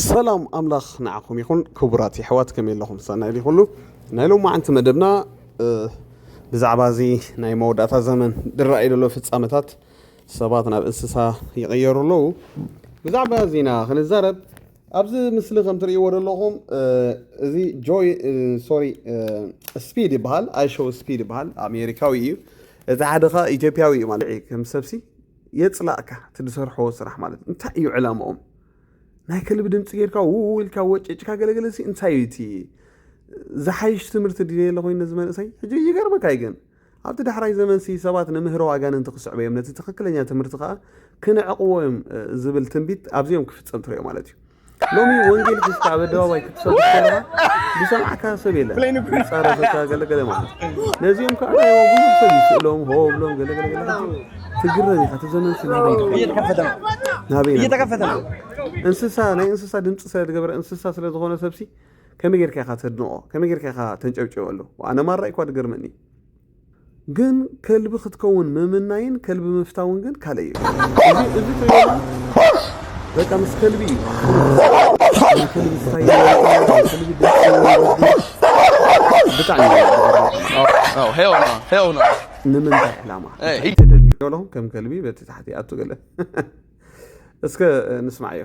ሰላም ኣምላኽ ንዓኹም ይኹን ክቡራት የሕዋት ከመይ ኣለኹም ሰናይ ድዩ ኩሉ ናይ ሎማዓንቲ መደብና ብዛዕባ እዚ ናይ መወዳእታ ዘመን ድረኣዩ ዘሎ ፍጻመታት ሰባት ናብ እንስሳ ይቕየሩ ኣለዉ ብዛዕባ እዚና ክንዛረብ ኣብዚ ምስሊ ከም ትርእይዎ ዘለኹም እዚ ጆይ ሶሪ ስፒድ ይበሃል ኣይሾው ስፒድ ይበሃል ኣሜሪካዊ እዩ እቲ ሓደ ከ ኢትዮጵያዊ እዩ ማለት እዩ ከም ሰብሲ የፅላእካ እቲ ዝሰርሕዎ ስራሕ ማለት እንታይ እዩ ዕላማኦም ናይ ከልቢ ድምፂ ጌርካ ውውልካ ወጭጭካ ገለገለ ሲ እንታይ እዩ እቲ ዝሓይሽ ትምህርቲ ድልየ ኣለኹ ነዚ መንእሰይ ሕጂ ይገርመካ እዩ ግን ኣብቲ ዳሕራይ ዘመንሲ ሰባት ንምህሮ ኣጋንንቲ ክስዕቡ እዮም፣ ነቲ ትኽክለኛ ትምህርቲ ኸኣ ክንዕቕዎ እዮም ዝብል ትንቢት ኣብዚ እዮም ክፍጸም ትርእዮ ማለት እዩ። ሎሚ ወንጌል ሒዝካ ኣብ ኣደባባይ ክትሰብክ ከለኻ ዝሰምዓካ ሰብ የለን፣ ይጻረፈካ ገለ ገለ ማለት እዩ። ነዚኦም ከዓ ናይ ብዙሕ ሰብ እዩ ስእሎም ሆ ብሎም ገለ ገለ ገለ ሕጂ ትግረም ኢኻ እቲ ዘመንሲ ናበይ ድዩ እየተከፈተ ነው ናበይ ናበይ እየተከፈተ ነው እንስሳ ናይ እንስሳ ድምፂ ስለ ዝገበረ እንስሳ ስለ ዝኾነ ሰብሲ ከመይ ጌርካ ኢኻ ተድንቖ ከመይ ጌርካ ኢኻ ተንጨብጭበሉ ኣነ ማራ እኳ ድገርመኒ ግን ከልቢ ክትከውን ምምናይን ከልቢ ምፍታውን ግን ካልእ እዩ እዚ ትሪኦ በቃ ምስ ከልቢ እዩ ከልቢ ዝኸይድ ከልቢ ብጣዕሚ ንምንታይ ዕላማ ተደልዩ ከም ከልቢ በቲ ታሕቲ ኣቱ ገለ እስከ ንስማዕዮ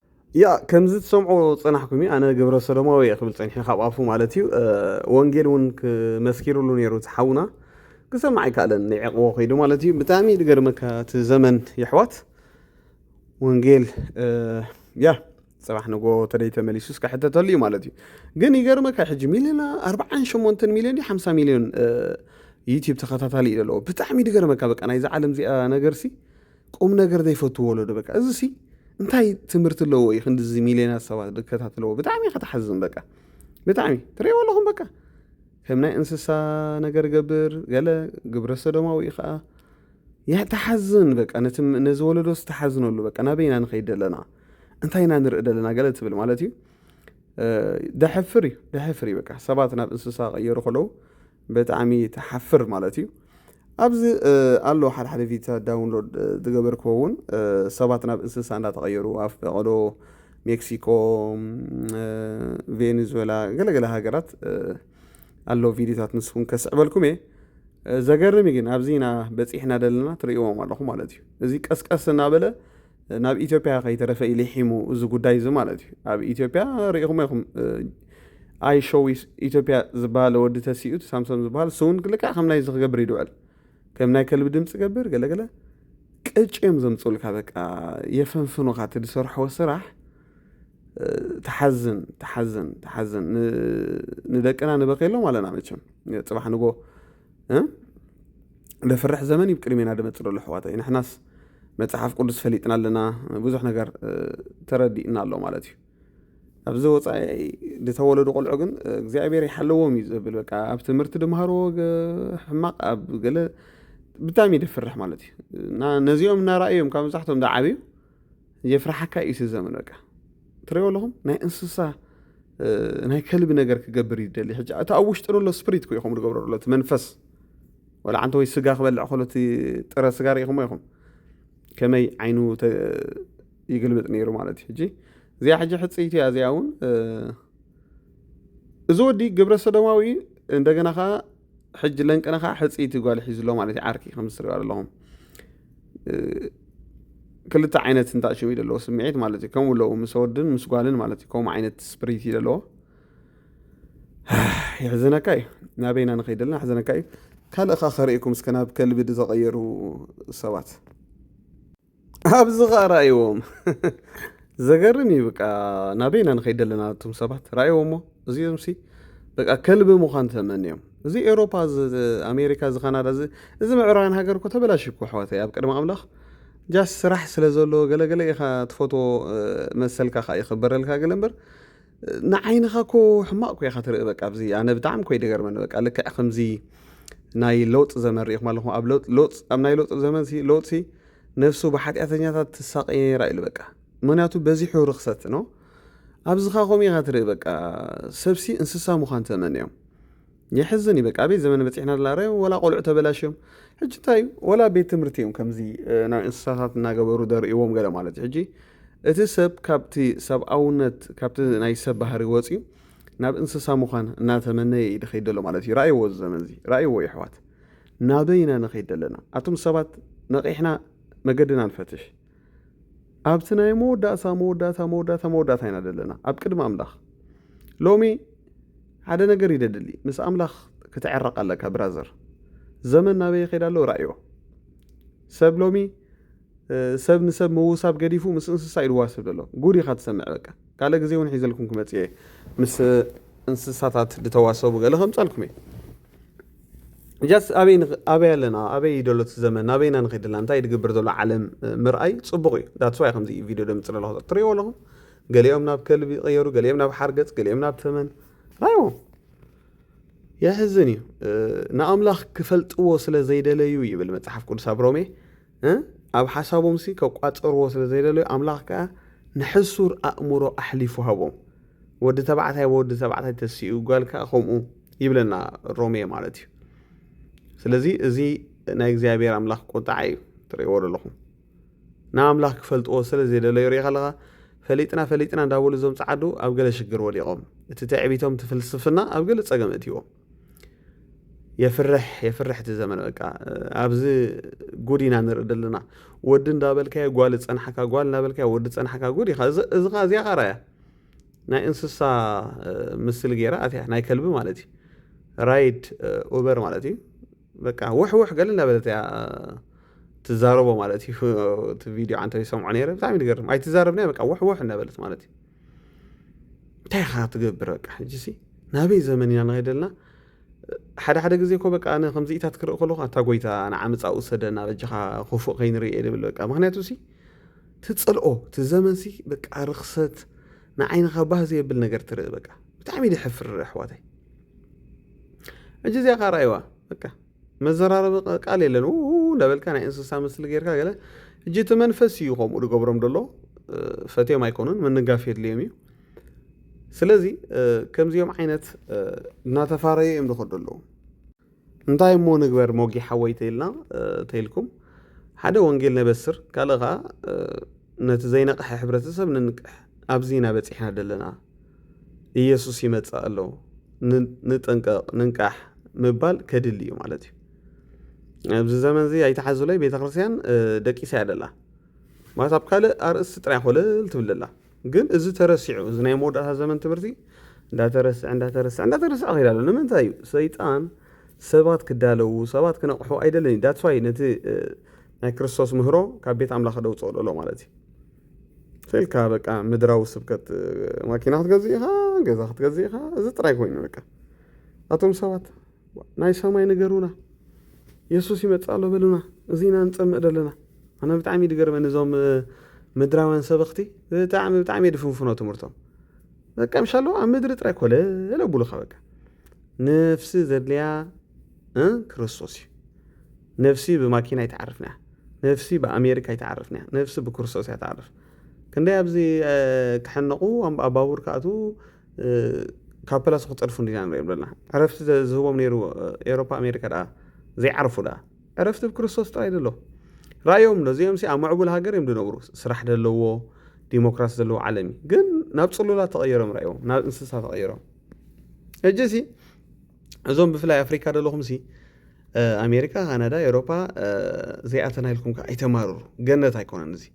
ያእ ከምዚ ትሰምዑ ጸናሕኩም እዩ ኣነ ግብረ ሰዶማዊ እየ ክብል ጸኒሑ ካብ ኣፉ ማለት እዩ ወንጌል እውን ክመስኪርሉ ነይሩ እቲ ሓውና ክሰምዕ ኣይከኣለን ንዕቕቦ ከይዱ ማለት እዩ ብጣዕሚ ዝገርመካ እቲ ዘመን የሕዋት ወንጌል ያ ፅባሕ ንጎ ተደይ ተመሊሱ እስከ ሕተተሉ እዩ ማለት እዩ ግን ይገርመካ ሕጂ ሚሊዮን ኣርባዓን ሸሞንተን ሚሊዮን እዩ ሓምሳ ሚሊዮን ዩትብ ተኸታታሊ እዩ ዘለዎ ብጣዕሚ ድገርመካ በቃ ናይዚ ዓለም እዚኣ ነገርሲ ቁም ነገር ዘይፈቱ ወለዶ በቃ እዚ ሲ እንታይ ትምህርቲ ኣለዎ እዩ ክንዲዚ ሚልዮናት ሰባት ዝከታተለዎ ብጣዕሚ ኢኻ ትሓዝን በቃ ብጣዕሚ ትርእይዎ ኣለኹም በቃ ከም ናይ እንስሳ ነገር ገብር ገለ ግብረ ሰዶማዊ እዩ ከዓ ያ ተሓዝን በቃ ነቲ ነዚ ወለዶ ዝተሓዝነሉ በቃ ናበይና ንኸይድ ደለና እንታይ ኢና ንርኢ ደለና ገለ ትብል ማለት እዩ ደሕፍር እዩ ደሕፍር እዩ በቃ ሰባት ናብ እንስሳ ቀየሩ ከለዉ ብጣዕሚ ትሓፍር ማለት እዩ ኣብዚ ኣሎ ሓደ ሓደ ቪታ ዳውንሎድ ዝገበርክዎ እውን ሰባት ናብ እንስሳ እንዳተቐየሩ ኣብ ፈቐዶ ሜክሲኮ ቬኔዙዌላ ገለገለ ሃገራት ኣሎ ቪድዮታት ንስኹም ከስዕበልኩም እየ ዘገርም ግን ኣብዚ ኢና በፂሕና ዘለና ትርእዎም ኣለኹ ማለት እዩ እዚ ቀስቀስ እናበለ ናብ ኢትዮጵያ ከይተረፈ እዩ ሊሒሙ እዚ ጉዳይ እዚ ማለት እዩ ኣብ ኢትዮጵያ ሪኢኹሞ ኢኹም ኣይ ሾው ኢትዮጵያ ዝበሃል ወዲ ተሲኡ ሳምሶን ዝበሃል ስውን ልክዕ ከም ናይዚ ክገብር ይድውዕል ከም ናይ ከልቢ ድምፂ ገብር ገለገለ ቅጭ እዮም ዘምፅኡልካ በቃ የፈንፍኑኻ እቲ ዝሰርሕዎ ስራሕ ተሓዝን ተሓዝን ተሓዝን ንደቅና ንበከሎም ኣለና መቸም ፅባሕ ንጎ ለፍርሕ ዘመን እዩ ቅድሜና ደመፅእ ዘሎ ኣሕዋተይ ንሕናስ መፅሓፍ ቅዱስ ፈሊጥና ኣለና ብዙሕ ነገር ተረዲእና ኣሎ ማለት እዩ ኣብዚ ወፃኢ ዝተወለዱ ቆልዑ ግን እግዚኣብሔር ይሓለዎም እዩ ዝብል በቃ ኣብ ትምህርቲ ድምሃርዎ ሕማቕ ኣብ ገለ ብጣዕሚ ደፍርሕ ማለት እዩ እና ነዚኦም እናረእዮም ካብ መብዛሕትኦም ዝዓብዩ የፍርሓካ እዩ እቲ ዘመን በቃ ትሪኦ ኣለኹም ናይ እንስሳ ናይ ከልቢ ነገር ክገብር እዩ ደሊ ሕጂ እቲ ኣብ ውሽጢ ዘሎ ስፕሪት ኮ ኢኹም ዝገብሮ ዘሎ እቲ መንፈስ ወላ ዓንተ ወይ ስጋ ክበልዕ ከሎ እቲ ጥረ ስጋ ርኢኹሞ ኢኹም ከመይ ዓይኑ ይግልብጥ ነይሩ ማለት እዩ ሕጂ እዚኣ ሕጂ ሕፅይቲ እያ እዚኣ እውን እዚ ወዲ ግብረ ሰዶማዊ እንደገና ከዓ ሕጂ ለንቅነ ከዓ ሕፅይቲ ጓል ሒዙ ኣሎ ማለት እዩ ዓርኪ ከምዚ ትሪኦ ኣለኹም ክልተ ዓይነት እንዳ ሽም እዩ ዘለዎ ስምዒት ማለት እዩ ከምኡ ኣለዉ ምስ ወድን ምስ ጓልን ማለት እዩ ከምኡ ዓይነት ስፕሪት እዩ ዘለዎ የሕዘነካ እዩ ናበይና ንኸይድ ኣለና የሕዘነካ እዩ ካልእ ካ ከርእኩም እስከ ናብ ከልቢ ዝተቐየሩ ሰባት ኣብዚ ከኣ ራኣይዎም ዘገርም እዩ በቃ ናበይ ኢና ንኸይድ ኣለና እቶም ሰባት ራኣይዎሞ እዚኦምሲ በቃ ከልቢ ምዃን ተመንዮም እዚ ኤሮፓ ኣሜሪካ እዚ ካናዳ እዚ እዚ ምዕራባውያን ሃገር እኮ ተበላሽ እኮ ኣሕዋተይ ኣብ ቅድሚ ኣምላኽ ጃስ ስራሕ ስለ ዘለዎ ገለገለ ኢኻ ትፈትዎ መሰልካ ከዓ ይኽበረልካ ገለ እምበር ንዓይንኻ እኮ ሕማቅ እኮ ኢኻ ትርኢ በቃ ኣብዚ ኣነ ብጣዕሚ እኮ ይደገርመኒ በቃ ልክዕ ከምዚ ናይ ለውጥ ዘመን ሪኢኹም ኣለኹም ኣብ ለውጥ ኣብ ናይ ለውጥ ዘመን ሲ ለውጥ ሲ ነፍሱ ብሓጢኣተኛታት ትሳቀይ ነይራ ኢሉ በቃ ምክንያቱ በዚሑ ርክሰት ነው ኣብዚ ኸዓ ከምኡ ኢኻ ትርኢ በቃ ሰብሲ እንስሳ ምዃን ተመንዮም የሕዝን እዩ በቃ ኣበይ ዘመን በጺሕና ዘለና ርኣዩ ወላ ቆልዑ ተበላሽዮም ሕጂ እንታይ እዩ ወላ ቤት ትምህርቲ እዮም ከምዚ ናብ እንስሳታት እናገበሩ ደርእዎም ገለ ማለት እዩ ሕጂ እቲ ሰብ ካብቲ ሰብኣውነት ካብቲ ናይ ሰብ ባህሪ ወፅዩ ናብ እንስሳ ምዃን እናተመነየ እዩ ድኸይድ ዘሎ ማለት እዩ ርኣይዎ እዚ ዘመን እዚ ርኣይዎ የሕዋት ናበይ ኢና ንኸይድ ዘለና ኣቱም ሰባት ነቒሕና መገድና ንፈትሽ ኣብቲ ናይ መወዳእታ መወዳእታ መወዳእታ መወዳእታ ኢና ዘለና ኣብ ቅድሚ ኣምላኽ ሎሚ ሓደ ነገር እዩ ደድሊ ምስ ኣምላኽ ክትዕረቕ ኣለካ ብራዘር ዘመን ናበይ ይኸይድ ኣሎ ራእዮ ሰብ ሎሚ ሰብ ንሰብ ምውሳብ ገዲፉ ምስ እንስሳ እዩ ድዋስብ ዘሎ ጉድ ኢኻ ትሰምዕ በቃ ካልእ ግዜ ውን ሒዘልኩም ክመጽእ እየ ምስ እንስሳታት ድተዋሰቡ ገለ ከምጻልኩም እየ ጃስ ኣበይ ኣበይ ኣለና ኣበይ እዩ ደሎ እቲ ዘመን ኣበይ ኢና ንኸይድ ዘለና እንታይ ድግብር ዘሎ ዓለም ምርኣይ ጽቡቕ እዩ ዳትስ ዋይ ከምዚ ቪድዮ ደምጽ ኣለኹ ትርእይዎ ኣለኹም ገሊኦም ናብ ከልቢ ይቐየሩ ገሊኦም ናብ ሓርገጽ ገሊኦም ናብ ተመን ራይዎ የሕዝን እዩ ንኣምላኽ ክፈልጥዎ ስለ ዘይደለዩ ይብል መጽሓፍ ቅዱስ ኣብ ሮሜ እህ ኣብ ሓሳቦምሲ ከቋጽርዎ ስለ ዘይደለዩ ኣምላኽ ከኣ ንሕሱር ኣእምሮ ኣሕሊፉ ሃቦም። ወዲ ተባዕታይ ብወዲ ተባዕታይ ተሲኡ ጋል ከኣ ከምኡ ይብለና ሮሜ ማለት እዩ። ስለዚ እዚ ናይ እግዚኣብሔር ኣምላኽ ቁጥዓ እዩ ትርእይዎ ዘለኹም። ንኣምላኽ ክፈልጥዎ ስለ ዘይደለዩ ርኢኻ ኣለኻ ፈሊጥና ፈሊጥና እንዳበሉ እዞም ጸዓዱ ኣብ ገለ ሽግር ወዲቖም። እቲ ትዕቢቶም እቲ ፍልስፍና ኣብ ገለ ጸገም እእትይዎም። የፍርሕ የፍርሕ እቲ ዘመን በቃ ኣብዚ ጉድ ኢና ንርኢ ዘለና ወዲ እንዳበልካዮ ጓል ጸንሓካ ጓል እንዳበልካዮ ወዲ ጸንሓካ ጉድ ኢኻ እዚ ኸ እዚኣ ኸራያ ናይ እንስሳ ምስሊ ገይራ ኣትያ ናይ ከልቢ ማለት እዩ ራይድ ኡበር ማለት እዩ በቃ ውሕ ውሕ ገለ እንዳበለት እያ ትዛረቦ ማለት እዩ እቲ ቪድዮ ዓንተ ይሰምዖ ነይረ ብጣዕሚ ዝገርም ኣይትዛረብናይ በቃ ውሕ ውሕ እንዳበለት ማለት እዩ እንታይ ኢኻ ትገብር በቃ ሕጂሲ ናበይ ዘመን ኢና ንኸይድ ዘለና ሓደ ሓደ ግዜ እኮ በቃ ኣነ ከምዚኢታት ክርኢ ከለኹ ኣታ ጎይታ ንዓመፃ ውሰደና በጃኻ ክፉእ ከይንርኢ ድብል በቃ ምክንያቱ ሲ ትፅልኦ እቲ ዘመን ሲ በቃ ርኽሰት ንዓይንኻ ባህ ዘየብል ነገር ትርኢ በቃ ብጣዕሚ ደሕፍር ኣሕዋተይ ሕጂ እዚኣ ኻርኣይዋ በቃ መዘራረቢ ቃል የለን ዉዉ እንዳበልካ ናይ እንስሳ ምስሊ ጌርካ ገለ ሕጂ እቲ መንፈስ እዩ ከምኡ ዝገብሮም ደሎ ፈትዮም ኣይኮኑን ምንጋፍ የድልዮም እዩ ስለዚ ከምዚኦም ዓይነት እናተፋረዩ እዮም ዝኸዱ ኣለዉ እንታይ እሞ ንግበር ሞጊ ሓወይ ተይልና ተይልኩም ሓደ ወንጌል ነበስር ካልእ ከዓ ነቲ ዘይነቕሐ ሕብረተሰብ ንንቅሕ ኣብዚ ኢና በፂሕና ደለና ኢየሱስ ይመጽእ ኣሎ ንጠንቀቕ ንንቃሕ ምባል ከድሊ እዩ ማለት እዩ ኣብዚ ዘመን እዚ ኣይተሓዙለይ ቤተ ክርስቲያን ደቂሳ እያ ደላ ማለት ኣብ ካልእ ኣርእስቲ ጥራይ ኮለል ትብል ደላ ግን እዚ ተረሲዑ እዚ ናይ መወዳእታ ዘመን ትምህርቲ እንዳተረስዐ እንዳተረስዐ እንዳተረስዐ ከይዳ ኣሎ ንምንታይ እዩ ሰይጣን ሰባት ክዳለዉ ሰባት ክነቕሑ ኣይደልን እዩ ዳትስዋይ ነቲ ናይ ክርስቶስ ምህሮ ካብ ቤት ኣምላኽ ደውፅኦ ደሎ ማለት እዩ ፈልካ በቃ ምድራዊ ስብከት ማኪና ክትገዝእ ኢኻ ገዛ ክትገዝእ ኢኻ እዚ ጥራይ ኮይኑ በቃ ኣቶም ሰባት ናይ ሰማይ ንገሩና የሱስ ይመፅእ ኣሎ በሉና እዚ ኢና ንፀምእ ዘለና ኣነ ብጣዕሚ ድገርመኒ እዞም ምድራውያን ሰበኽቲ ብጣዕሚ ብጣዕሚ ድፍንፍኖ ትምህርቶም በቃ ምሻ ኣለዎ ኣብ ምድሪ ጥራይ ኮለ ለብሉኻ በቃ ነፍሲ ዘድልያ ክርስቶስ እዩ ነፍሲ ብማኪና ይትዓርፍና ነፍሲ ብኣሜሪካ ኣይትዓርፍን እያ ነፍሲ ብክርስቶስ እያ ትዓርፍ ክንደይ ኣብዚ ክሕነቑ ኣብ ባቡር ክኣትዉ ካብ ፕላሱ ክፀድፉ እንዲና ንሪኦም ዘለና ዕረፍቲ ዝህቦም ነይሩ ኤሮፓ ኣሜሪካ ደኣ ዘይዓርፉ ደኣ ዕረፍቲ ብክርስቶስ ጥራይ ደሎ ራእዮም ዶ እዚኦም ኣብ ምዕቡል ሃገር እዮም ዝነብሩ ስራሕ ዘለዎ ዲሞክራሲ ዘለዎ ዓለም እዩ ግን ናብ ፅሉላት ተቐይሮም ራእዮም ናብ እንስሳ ተቐይሮም ሕጂ ሲ እዞም ብፍላይ ኣፍሪካ ዘለኹምሲ ኣሜሪካ ካናዳ ኤሮፓ ዘይኣተና ኢልኩም ከዓ ኣይተማርሩ ገነት ኣይኮነን እዚ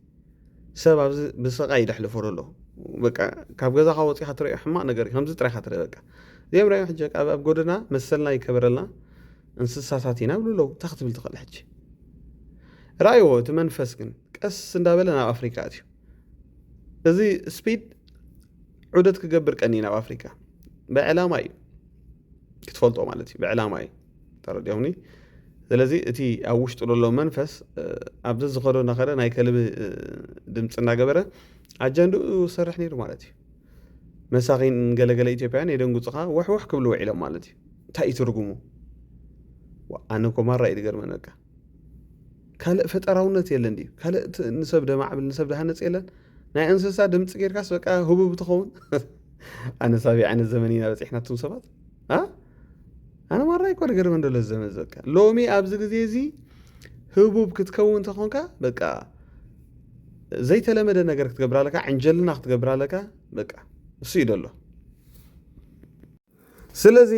ሰብ ኣብዚ ብስቃይ ደሕልፎ ዘሎ በቃ ካብ ገዛኻ ወፂኻ ትሪኦ ሕማቕ ነገር እዩ ከምዚ ጥራይካ ትርኢ በቃ እዚኦም ሪኦ ሕጂ ኣብ ጎደና መሰልና ይከበረልና እንስሳታት ኢና ብሉ ኣለዉ እንታይ ክትብል ትኽእል ሕጂ ረኣይዎ እቲ መንፈስ ግን ቀስ እንዳበለ ናብ ኣፍሪካ ኣትዩ እዚ ስፒድ ዑደት ክገብር ቀኒ ናብ ኣፍሪካ ብዕላማ እዩ ክትፈልጦ ማለት እዩ ብዕላማ እዩ ተረዲኦምኒ ስለዚ እቲ ኣብ ውሽጡ ዘሎ መንፈስ ኣብዚ ዝኸዶ እናኸደ ናይ ከልቢ ድምፂ እናገበረ ኣጀንድኡ ዝሰርሕ ነይሩ ማለት እዩ መሳኺን ገለገለ ኢትዮጵያን የደንጉፅኻ ወሕወሕ ክብሉ ውዒሎም ማለት እዩ እንታይ እዩ ትርጉሙ ኣነ ኮማራ እዩ ዝገርመን በቃ ካልእ ፈጠራውነት የለን ድዩ? ካልእ ንሰብ ደማዕብል ንሰብ ደሃነፅ የለን? ናይ እንስሳ ድምፂ ጌርካስ በቃ ህቡብ ትኸውን? ኣነ ሳቢ ዓይነት ዘመን ኢና በፂሕና እቱም ሰባት ኣነ ማራ ይኮ ነገር መንደሎ ዘመን ዘካ ሎሚ ኣብዚ ግዜ እዚ ህቡብ ክትከውን ተኾንካ በቃ ዘይተለመደ ነገር ክትገብር ኣለካ ዕንጀልና ክትገብር ኣለካ በቃ እሱ እዩ ደሎ ስለዚ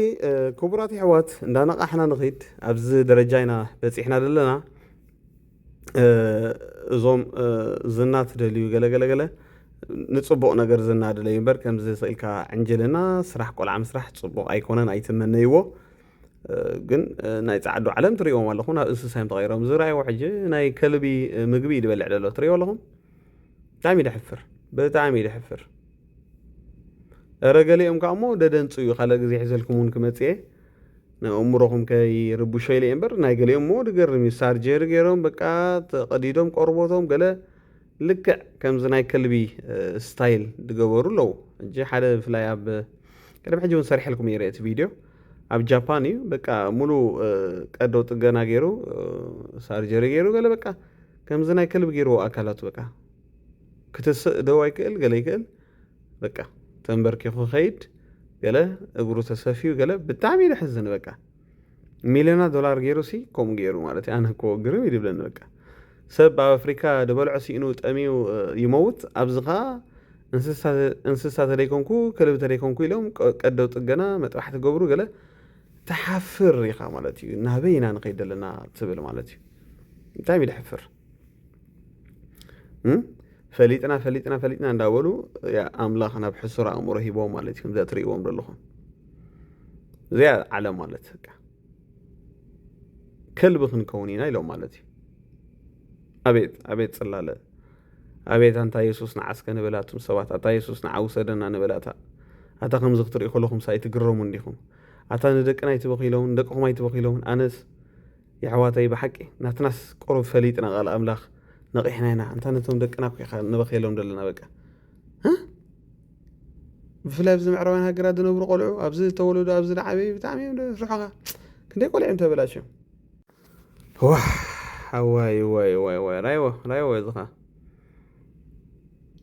ክቡራት የሕዋት እንዳነቓሕና ንኺድ ኣብዚ ደረጃ ኢና በጺሕና ዘለና እዞም ዝና ትደልዩ ገለገለገለ ንፅቡቕ ነገር ዝናድለዩ እምበር ከምዚ ስኢልካ ዕንጅልና ስራሕ ቆልዓ ምስራሕ ፅቡቕ ኣይኮነን ኣይትመነይዎ ግን ናይ ፃዕዱ ዓለም ትሪእዎም ኣለኹ ናብ እንስሳ እዮም ተቐይሮም ዝረኣይዎ ሕጂ ናይ ከልቢ ምግቢ ይድበልዕ ደሎ ትሪእዎ ኣለኹም ብጣዕሚ ደሕፍር ብጣዕሚ ደሕፍር እረ ገሊኦም ከኣ እሞ ደደንጹ እዩ ካልእ ግዜ ሒዘልኩም እውን ክመጽእ እየ ንእእምሮኹም ከይርብሾ ኢለ እየ እምበር ናይ ገሊኦም እሞ ድገርም እዩ ሳርጀሪ ገይሮም በቃ ተቐዲዶም ቆርቦቶም ገለ ልክዕ ከምዚ ናይ ከልቢ ስታይል ድገበሩ ኣለዉ እጂ ሓደ ብፍላይ ኣብ ቅድሚ ሕጂ እውን ሰርሐልኩም እየ እቲ ቪድዮ ኣብ ጃፓን እዩ በቃ ሙሉ ቀዶ ጥገና ገይሩ ሳርጀሪ ገይሩ ገለ በቃ ከምዚ ናይ ከልቢ ገይርዎ ኣካላቱ በቃ ክትስእ ደው ኣይክእል ገለ ይክእል በቃ ተንበርኪኹ ክኸይድ ገለ እግሩ ተሰፊዩ ገለ ብጣዕሚ ደሕዝን በቃ ሚልዮና ዶላር ገይሩ ሲ ከምኡ ገይሩ ማለት እዩ ኣነ እኮ ግርም ይድብለኒ በቃ ሰብ ኣብ ኣፍሪካ ድበልዖ ሲኢኑ ጠሚዩ ይመውት ኣብዚ ከዓ እንስሳ ተደይኮንኩ ክልብ ተደይኮንኩ ኢሎም ቀደው ጥገና መጥራሕ ትገብሩ ገለ ትሓፍር ኢኻ ማለት እዩ ናበይ ኢና ንኸይድ ዘለና ትብል ማለት እዩ እንታይ እዩ ድሕፍር ፈሊጥና ፈሊጥና ፈሊጥና እንዳበሉ ኣምላኽ ናብ ሕሱር ኣእምሮ ሂቦ ማለት እዩ ከምዚኣ ትርእይዎም ዘለኹም እዚኣ ዓለም ማለት ከልቢ ክንከውን ኢና ኢሎም ማለት እዩ ኣቤት ኣቤት ጽላለ ኣቤት ኣንታ የሱስ ንዓስከ ንበላቱም ሰባት ኣታ የሱስ ንዓ ውሰደና ንበላታ ኣታ ከምዚ ክትርኢ ከለኹም ሳይትግረሙ እንዲኹም ኣታ ንደቅና ኣይትበኺሎምን ደቅኹም ኣይትበኺሎምን ኣነስ የሕዋተይ ብሓቂ ናትናስ ቁሩብ ፈሊጥና ቃል ኣምላኽ ነቒሕና ኢና ኣንታ ነቶም ደቅና እኮ ኢኻ ንበኽየሎም ዘለና በቃ እ ብፍላይ ኣብዚ ምዕራባውያን ሃገራት ዝነብሩ ቆልዑ ኣብዚ ዝተወለዱ ኣብዚ ዝዓበዩ ብጣዕሚ እዮም ፍርሖኻ ክንደይ ቆልዑ እዮም ተበላሽዮም ዋ ዋይ ዋይ ዋይ ዋይ ራይዎ ራይዎ እዚኻ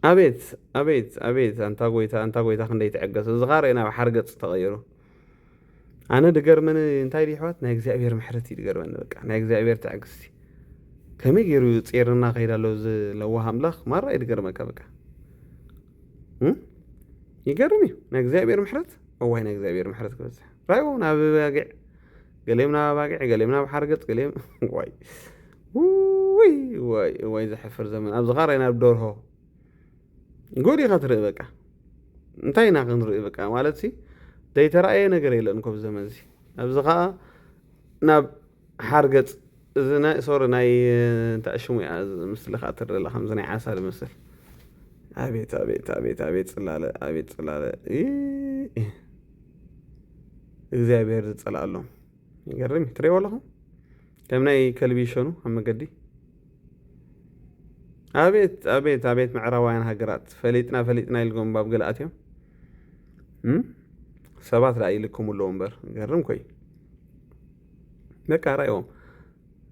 ኣቤት ኣቤት ኣቤት ኣንታ ጎይታ ኣንታ ጎይታ ክንደይ ትዕገስ እዚኻ ርእና ኣብ ሓርገፅ ተቐይሩ ኣነ ድገርመኒ እንታይ ድዩ ኣሕዋት ናይ እግዚኣብሔር ምሕረት እዩ ድገርመኒ በቃ ናይ እግዚኣብሔር ትዕግስቲ ከመይ ገይሩ ጼርና ከይድ ኣሎ እዚ ለዋህ ኣምላኽ ማራ እዩ ድገርመካ በቃ ይገርም እዩ ናይ እግዚኣብሔር ምሕረት እዋይ ናይ እግዚኣብሔር ምሕረት ክበዝሕ ራይዎ ናብ ባጊዕ ገሊኦም ናብ ባጊዕ ገሊኦም ናብ ሓርገፅ ገሊኦም ዋይ ወይ ወይ ዘሕፍር ዘመን ኣብዚ ኻራይ ናብ ደርሆ ጉድ ኢኻ ትርኢ በቃ እንታይ ኢና ክንርኢ በቃ ማለት ሲ ዘይተረኣየ ነገር የለን ኮብ ዘመን እዚ ኣብዚ ከዓ ናብ ሓርገፅ እዚ ናይ ሶሪ ናይ እንታይ ሽሙ እያ ምስሊ ከዓ ትርኢ ኣላ ከምዚ ናይ ዓሳ ዝመስል ኣቤት ኣቤት ኣቤት ኣቤት ፅላለ ኣቤት ፅላለ እግዚኣብሔር ዝፀልኣሎም ይገርም እዩ ትሪእዎ ኣለኹም ከም ናይ ከልቢ ይሸኑ ኣብ መገዲ ኣቤት ኣቤት ኣቤት ምዕራባውያን ሃገራት ፈሊጥና ፈሊጥና ኢልጎም ባብ ገለ ኣትዮም ሰባት ደኣ ይልክሙ ኣለዎ እምበር ገርም ኮይ በቃ ራይዎም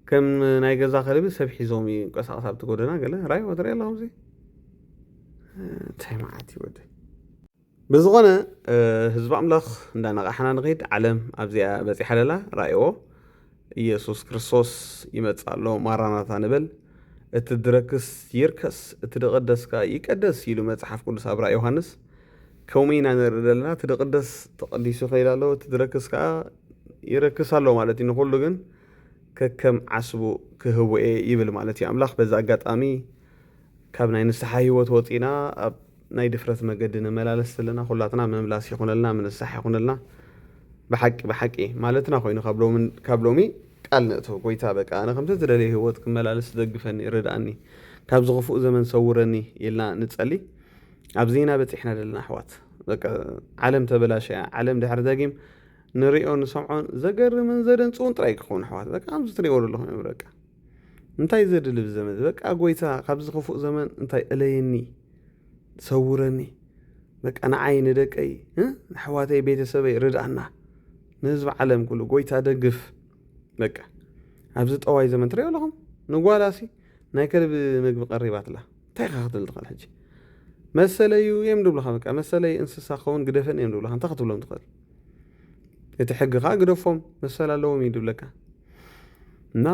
ከም ናይ ገዛ ከልቢ ሰብ ሒዞም ይንቀሳቐስ ኣብቲ ጎደና ገለ ራይዎ ትሪኢ ኣለኹም እዚ እንታይ መዓት ይወደ ብዝኾነ ህዝቢ ኣምላኽ እንዳነቓሕና ንኸይድ ዓለም ኣብዚኣ በጺሓ ለላ ራእዎ ኢየሱስ ክርስቶስ ይመጽእ ኣሎ ማራናታ ንበል እቲ ድረክስ ይርከስ እቲ ድቕደስ ከኣ ይቀደስ ኢሉ መጽሓፍ ቅዱስ ኣብ ራእይ ዮሃንስ ከምኡ ኢና ንርኢ ዘለና እቲ ድቕደስ ተቐዲሱ ይኸይድ ኣሎ እቲ ድረክስ ከኣ ይረክስ ኣሎ ማለት እዩ ንኹሉ ግን ከከም ዓስቡ ክህቦ እየ ይብል ማለት እዩ ኣምላኽ በዚ ኣጋጣሚ ካብ ናይ ንስሓ ህይወት ወጺእና ኣብ ናይ ድፍረት መገዲ ንመላለስ ዘለና ኩላትና ምምላስ ይኹነልና ምንሳሕ ይኹነልና ብሓቂ ብሓቂ ማለትና ኮይኑ ካብ ሎሚ ቃል ንእቶ ጎይታ በቃ ኣነ ከምቲ ትደልዮ ህይወት ክመላለስ ደግፈኒ ርድኣኒ ካብዚ ክፉእ ዘመን ሰውረኒ ኢልና ንጸሊ ኣብዚና በጺሕና ዘለና ኣሕዋት በቃ ዓለም ተበላሸያ ዓለም ድሕሪ ደጊም ንሪኦ ንሰምዖን ዘገርምን ዘደንጽውን ጥራይ ክኸውን ኣሕዋት በቃ ከምዚ ትሪእዎ ዘለኹም እዮም በቃ እንታይ ዘድሊ ብዘመዚ በቃ ጎይታ ካብዚ ክፉእ ዘመን እንታይ እለየኒ ሰውረኒ በቃ ንዓይ ንደቀይ ንኣሕዋተይ ቤተሰበይ ርድኣና ንህዝቢ ዓለም ኩሉ ጎይታ ደግፍ በቃ ኣብዚ ጠዋይ ዘመን ትሪኦ ኣለኹም ንጓላሲ ናይ ከልቢ ምግቢ ቀሪባትላ እንታይ ኢኻ ክትብል ትኽእል ሕጂ መሰለዩ እዮም ድብልኻ በቃ መሰለይ እንስሳ ክኸውን ግደፈን እዮም ድብልኻ እንታይ ክትብሎም ትኽእል እቲ ሕጊ ከዓ ግደፎም መሰል ኣለዎም እዩ ድብለካ እና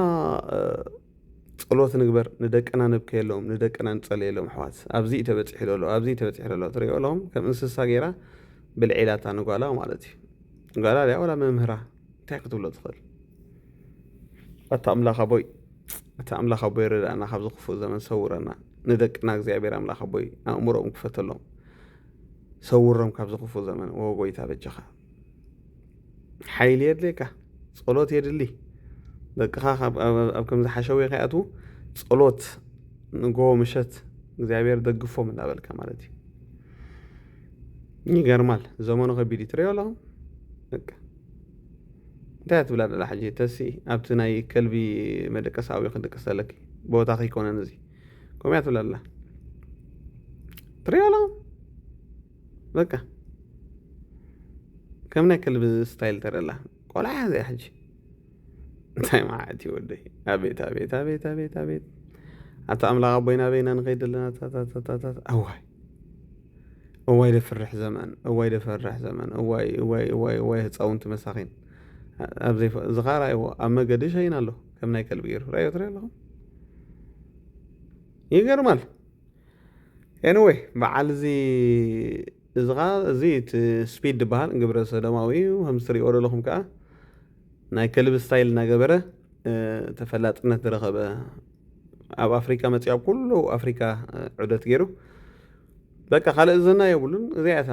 ጸሎት ንግበር ንደቅና ነብከየሎም ንደቅና ንጸልየሎም ኣሕዋት ኣብዚ እዩ ተበጺሑ ዘሎ ኣብዚ እዩ ተበጺሑ ዘሎ ትሪኦ ሎም ከም እንስሳ ገይራ ብልዒ ኢላታ ንጓላ ማለት እዩ ጓላ ድያ ወላ መምህራ እንታይ ክትብሎ ትኽእል ኣታ ኣምላኽ ኣቦይ እቲ ኣምላኽ ኣቦይ ረዳእና ካብዚ ክፉእ ዘመን ሰውረና ንደቅና እግዚኣብሔር ኣምላኽ ኣቦይ ኣእምሮኦም ክፈተሎም ሰውሮም ካብዚ ክፉእ ዘመን ኦ ጎይታ በጃኻ ሓይሊ የድልየካ ጸሎት የድሊ ደቅኻ ኣብ ከምዚ ሓሸውየ ከይኣትዉ ጸሎት ንጎ ምሸት እግዚኣብሔር ደግፎም እንዳበልካ ማለት እዩ ይገርማል ዘመኑ ከቢድ ትሪኦ ኣሎ በቃ እንታይ ትብላ ደላ ሕጂ ተሲ ኣብቲ ናይ ከልቢ መደቀሳዊ ክድቅሰለኪ ቦታ ከይኮነን እዚ ከምኡ እያ ትብል ኣላ ትሪኦ ኣላ በቃ ከም ናይ ከልቢ ስታይል ተረላ ቆልዓ እያ እዚኣ ሕጂ እንታይ መዓት እዩ ወደይ ኣቤት ኣቤት ኣቤት ኣቤት ኣቤት ኣታ ኣምላኽ ኣቦይና በይና ንኸይድ ኣለና ታታታታታት ኣዋይ እዋይ ደፍርሕ ዘመን እዋይ ደፈርሕ ዘመን እዋይ እዋይ እዋይ እዋይ ህፃውንቲ መሳኺን ኣብዚ ዝኻራይዎ ኣብ መገዲ ሸይን ኣሎ ከም ናይ ከልቢ ገይሩ ራዮ ትሪኦ ኣለኹ ይገርማል ኤኒወይ በዓል እዚ እዚ ኸዓ እዚ እቲ ስፒድ ዝበሃል ግብረ ሰዶማዊ እዩ ከምዚ ትሪእዎ ዘለኹም ከዓ ናይ ከልቢ ስታይል እናገበረ ተፈላጥነት ዝረኸበ ኣብ ኣፍሪካ መፂኡ ኣብ ኩሉ ኣፍሪካ ዑደት ገይሩ በቃ ካልእ ዝና የብሉን እዚኣ እታ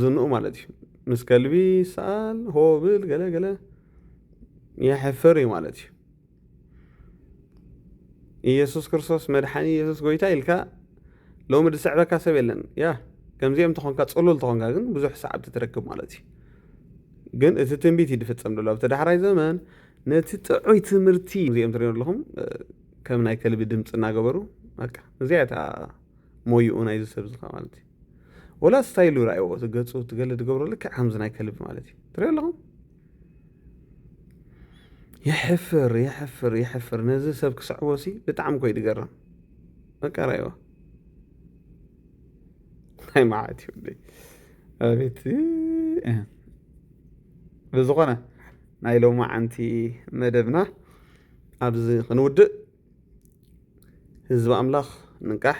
ዝንኡ ማለት እዩ ምስ ከልቢ ይሰኣል ሆ ብል ገለ ገለ የሕፍር እዩ ማለት እዩ ኢየሱስ ክርስቶስ መድሓኒ ኢየሱስ ጎይታ ኢልካ ሎሚ ዝስዕበካ ሰብ የለን ያ ከምዚኦም ተኾንካ ፅሉል ተኾንካ ግን ብዙሕ ሰዓብቲ ትረክብ ማለት እዩ ግን እቲ ትንቢት እዩ ዝፍፀም ዘሎ ኣብቲ ዳሕራይ ዘመን ነቲ ጥዑይ ትምህርቲ እዚኦም ትሪኦ ኣለኹም ከም ናይ ከልቢ ድምፂ እናገበሩ በቃ እዚኣ እታ ሞይኡ ናይዚ ሰብ ዝኻ ማለት እዩ ወላ ስታይሉ ርኣይዎ ገፁ ትገለ ዝገብሮ ልክዕ ከምዚ ናይ ከልቢ ማለት እዩ ትሪኦ ኣለኹም የሕፍር የሕፍር የሕፍር ነዚ ሰብ ክስዕቦ ሲ ብጣዕሚ ኮይ ድገርም በቃ ራይዋ ናይ መዓት ይብለይ ኣቤት ብዝኾነ ናይ ሎማዓንቲ መደብና ኣብዚ ክንውድእ ህዝቢ ኣምላኽ ንቃሕ